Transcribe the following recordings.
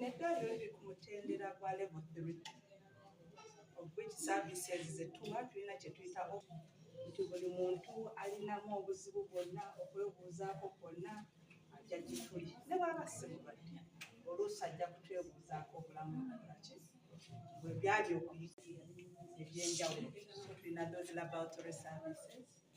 Netwaliro liri ku mutendera gwa level 3 which services zetuwa tulina kyetuyita nti buli muntu alinamu obuzibu bwonna okwebuuzaako kwonna ajja gituli ne bwaba simubadde oluusi ajja kutwebuuzaako obulamu bulaki bwe byali okuyitira ebyenjawulo tulina those laboratory services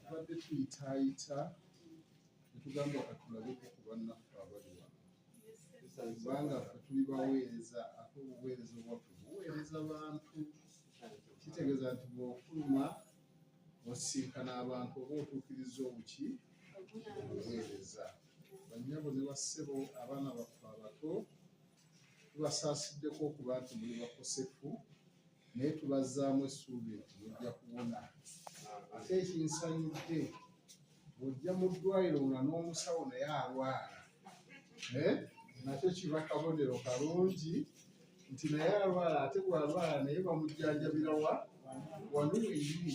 tubadde tuyitaayita netugamba katulabeko ku bannaffe abali wano kubanga fe tuli baweereza ate obuweereza obwaffe buweereza bantu kitegeeza nti bwofuluma wasisinkana abantu oba otuukiriza obuki obuweereza bannyabo ne bassebo abaana baffe abato tubasaasiddeko okuba nti muli bakosefu naye tubazzaamu essuubi nti mujja kubona ate ekinsanyudde bw'ojja mu ddwaliro nga n'omusawo naye alwala eh? nakyo kiba kabonero kalungi nti naye alwala ate bw'alwala naye bamujjanjabira wa wano wenyini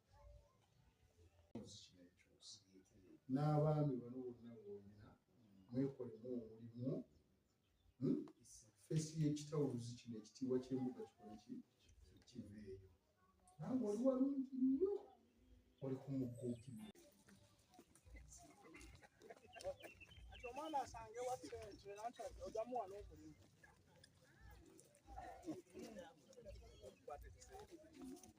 n'abaami bano bonna bwolina mwekolemu omulimu hmm? fesi y'ekitawuluzi kino ekitiibwa ky'embuga kikole ki kiveeyo nange oli walungi nnyo oli ku mugguukirira omwana asange wasenkyera nti ojamu wano omulimu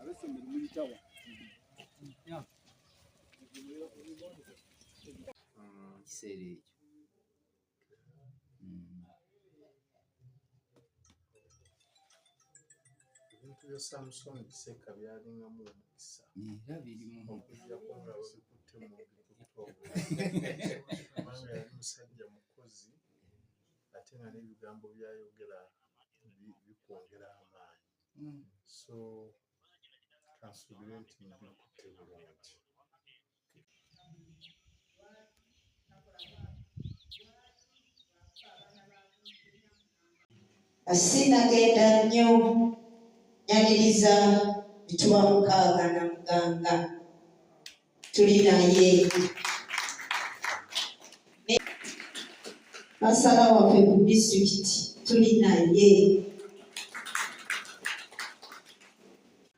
abesomero muyitawa kiseera ekyo ebintu bya samusoni kisekka byalingamu omukisa era birimu okujjako nga babikutte mu bikutobanga yali musajja mukozi ate nga n'ebigambo byayogera bikwongera amaanyi hmm. so kansubire nti mbikutte bulungi asinagenda nnyo nyaniriza mituwa mukaaga na muganga tuli naye masala waffe ku disitulikiti tuli naye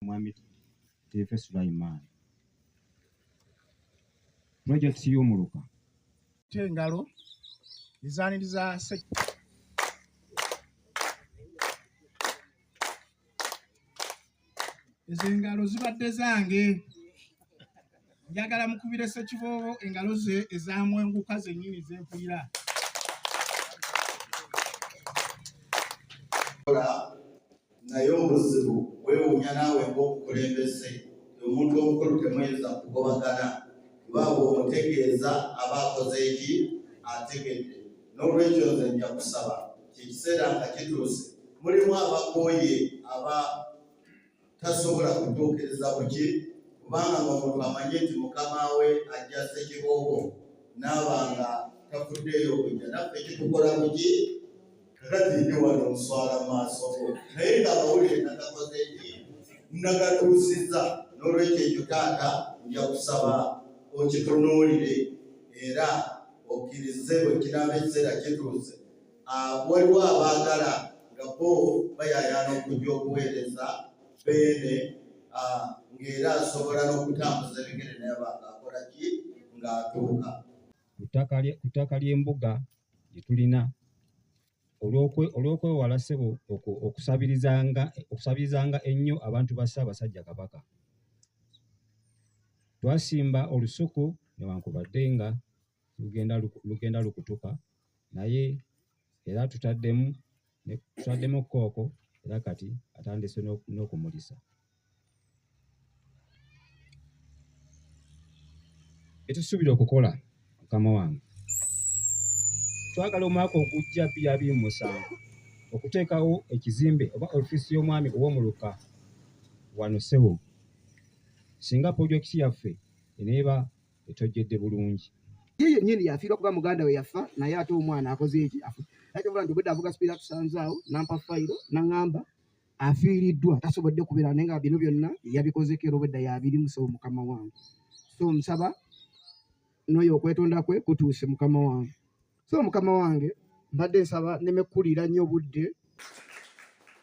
Mwami Teefe Sulaiman. Project y'omuluka. Tengalo ezaaniriza se ezo engalo zibadde zange njagala mukubire sekiboobo engalo ze ezamwenguka zennyini zempulira naye obuzibu wewunya naawe ngaomukulembeze omuntu omukulu temuyinza kugobagana kubanga omutegeeza aba akoze eki ategedde n'olwekyo nze nja kusaba kyekiseera nga kituuse mulimu abakooye aba tasobola kutuukiriza kuki kubanga ngaomuntu amanye nti mukama we ajja sekiboobo naaba nga tafuddeeyo okujja naffe kitukola kuki kakati ndi wano nswala maaso go naye ngaabawulire nagakoze nti nagatuusiza n'olwekyo ekyo taata nja kusaba okitunuulire era okkirize bwe kiraaba ekiseera kituuse ah, waliwo abaagala nga bo bayayaana okujja okuweereza beene ah, ng'era asobola n'okutambuza ebigere naye banga akola ki ng'atuuka ku ttaka ly'embuga gye tulina olw'okwewala ssebo okusabirizanga ennyo abantu ba Ssaabasajja Kabaka. Twasimba olusuku newankubadde nga lugenda lukutuka naye era tutaddemu twaddemu kooko era kati atandise n'okumulisa etusuubira okukola mukama wange twagala omwaka ogujja biri abiri mu musanvu okuteekawo ekizimbe oba ofiisi y'omwami ow'omuluka wano sebo singa pulojekiti yaffe eneeba etojjedde bulungi ye yennyini yafiirwa kuba muganda we yafa naye ate omwana akoze eki akyovula nti obwedda avuga sipiira tusanzaawo nampa fayiro naŋŋamba afiiriddwa tasobodde kubeera naye nga bino byonna yabikozeko era obwedda yabiri musabo mukama wange so omusaba n'oyo okwetonda kwe kutuuse mukama wange so mukama wange mbadde nsaba nemekkulira nnyo obudde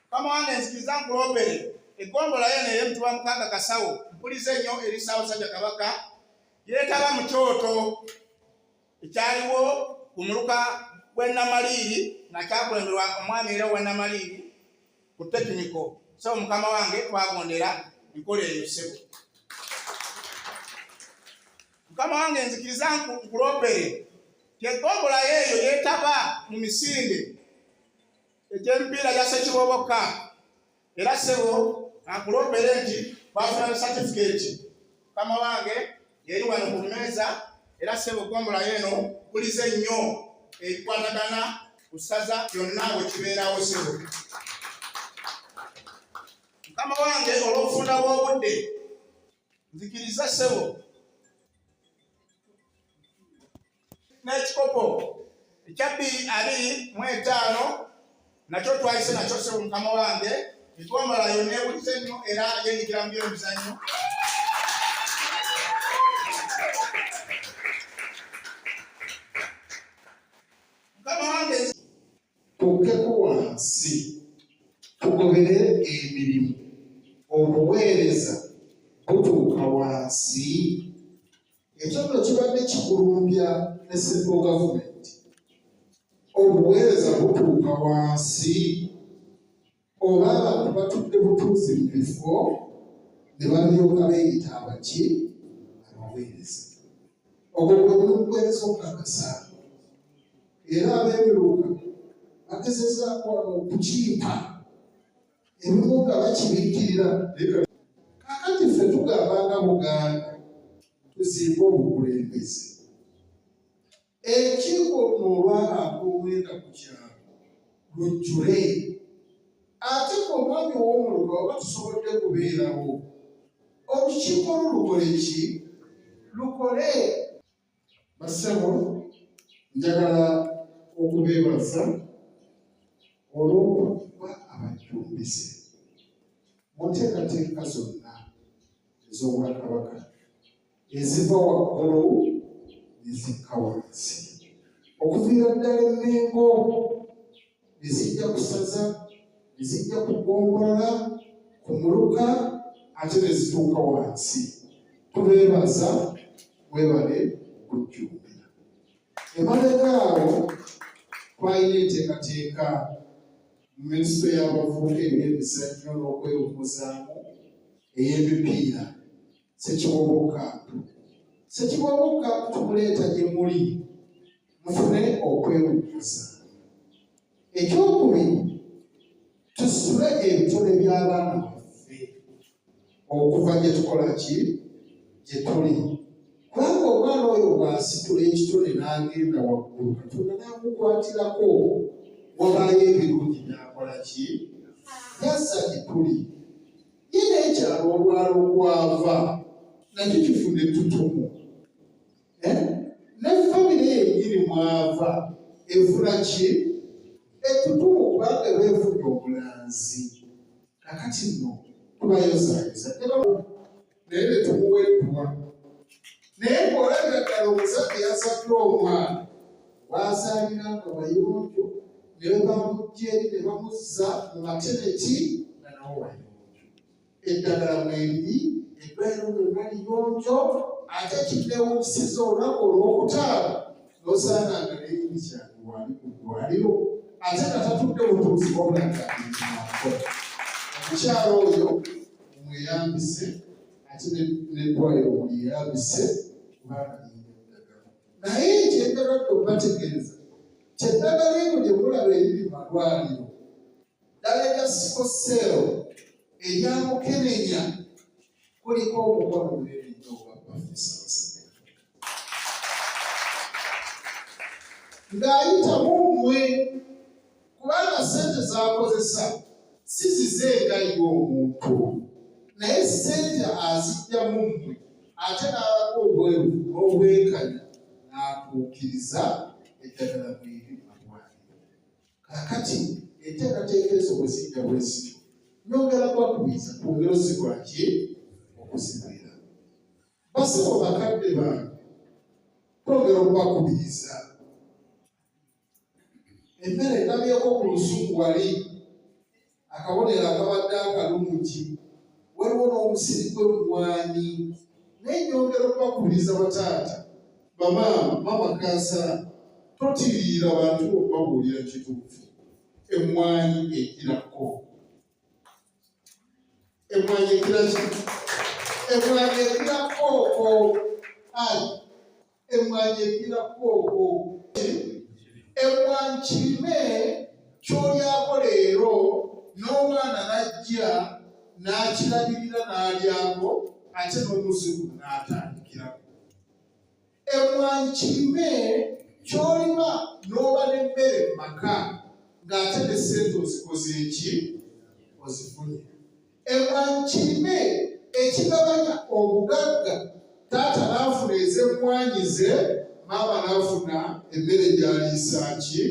mukama wange nzikiriza nkulobere egombolayo naye mutuba mukaaga kasawo mpulize nnyo eri ssaabasajja kabaka yeetaba mu kyoto ekyaliwo ku muluka gw'e namaliiri nga kyakulemberwa omwami era owa namaliiri ku tekiniko sebo mukama wange twagondera enkola eyo sebo mukama wange nzikiriza nkulopere kyegombolayo eyo yetaba mu misinde egy'emipiira gya sekiboboka era sebo akulopere nti bafuna ne satifiketi mukama wange yeri wano ku mmeeza era ssebo ggombolayo eno kulize nnyo ebikwatagana ku ssaza byonna bwe kibeerawo ssebo mukama wange olw'okufunda bw'obudde nzikiriza ssebo n'ekikopo ekyabbi ali mu etaano nakyo twayise nakyo sebo mukama wange etwambala yo neewulize nnyo era yenyigira mu byemizannyo mukama wange tukkeko wansi tugobere emirimu obuweereza butuuka wansi Ekyo nno kibadde kikulumbya ne Central Government. Obuweereza butuuka wansi oba abantu batudde butuuzi mu bifo ne balyoka beeyita abaki abaweereza. Ogwo gwe mulugweereza okukakasa era abeemiruka bagezezaako wano okukimpa. ebimu nga bakibikkirira kakati ffe tugamba nga buganda tuzimba obukulembeze ekiiko luno olwabantu omwenda ku kyalo lujjule ate ku omwami ow'omuluka oba tusobodde kubeerawo olukiiko lulukole ki lukole Bassebo njagala okubeebaza olw'okuba abajjumbise mu nteekateeka zonna ez'obwakabaka eziva waggulu ne zikka wansi okuviira ddala emmengo ne zijja ku ssaza ne zijja ku ggombolola ku muluka ate ne zituuka wansi tubeebaza webale okujjumbira emabega awo twalina enteekateeka mu minisito y'abavubuka eby'emizannyo n'okwewumuzaamu ey'emipiira sekibobokatu sekibobokatu tumuleeta gye muli mufune okwewuguza ekyokubiri tusule ebitone by'abaana baffe okuva gye tukola ki gye tuli kubanga omwana oyo bw'asitula ekitone n'agenda waggulu katonda n'amukwatirako wabaayo ebirungi n'akola ki yassa gye tuli Nyina ekyalo obwalo kwava nakyo kifuna ettutumu eh? ne famire yenyini mwava efuna ki ettutumu kubanga beefunye obulanzi kakati nno tubayozayeza naye netumuweddwa naye ng'olabira ddala omusajja yasaddwa omwana waasaalira nga wayonjo ne bamujja eri ne bamuzza mu mateneti nga nawo wayonjo eddagala mwebiri eddwaliro lyonna liyonjo ate kiddewunyisiza olunaku olw'okutaano n'osaana nga neyini kyange wali ku ddwaliro ate nga tatudde butuuzi wabula nga abiikimaako omukyalo oyo mumweyambise ate netwayo omuli yabise kubanga yinda eddagala naye ekyendala okubategeeza kyeddagala eno gye mulaba eriri mu malwaliro ddala erya sikoseero erya mukenenya kuliko omukono gwerinda ogwa profesa ng'ayitamu mmwe kubanga sente zakozesa si zize nga ye omuntu naye sente azijjamu mmwe ate n'alaga obweru n'obwenkanya n'atuukiriza eddagala mweri mumagwaliro kakati enteekateeka ezo bwe zijja bwezityo nyongera kwakubiza ku bulozi bwaki okuzibira basebo bakadde bange twongera okubakubiriza emmere etamyeko ku lusuku wali akabonero akabadde akalungi waliwo n'omusiri gwe mumwanyi naye nyongera okubakubiriza bataata bamaama maama kansala totiriira bantu okubabuulira kituufu emmwanyi egirako emwanyi ekira ki emwanyi ekira kooko ai emwanyi ekira kooko emwanyi kirime kyolyako leero n'omwana najja n'akirabirira n'alyako ate n'omuzimu n'atandikirako emmwanyi kirime ky'olima n'oba n'emmere mu maka ng'ate ne ssente ozikoze eki ozifunye emmwanyi kirime ekigabanya obugagga taata n'afuna ez'emmwanyi ze maama n'afuna emmere gy'aliisa ki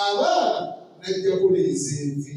abaana n'ajjako n'ezenvi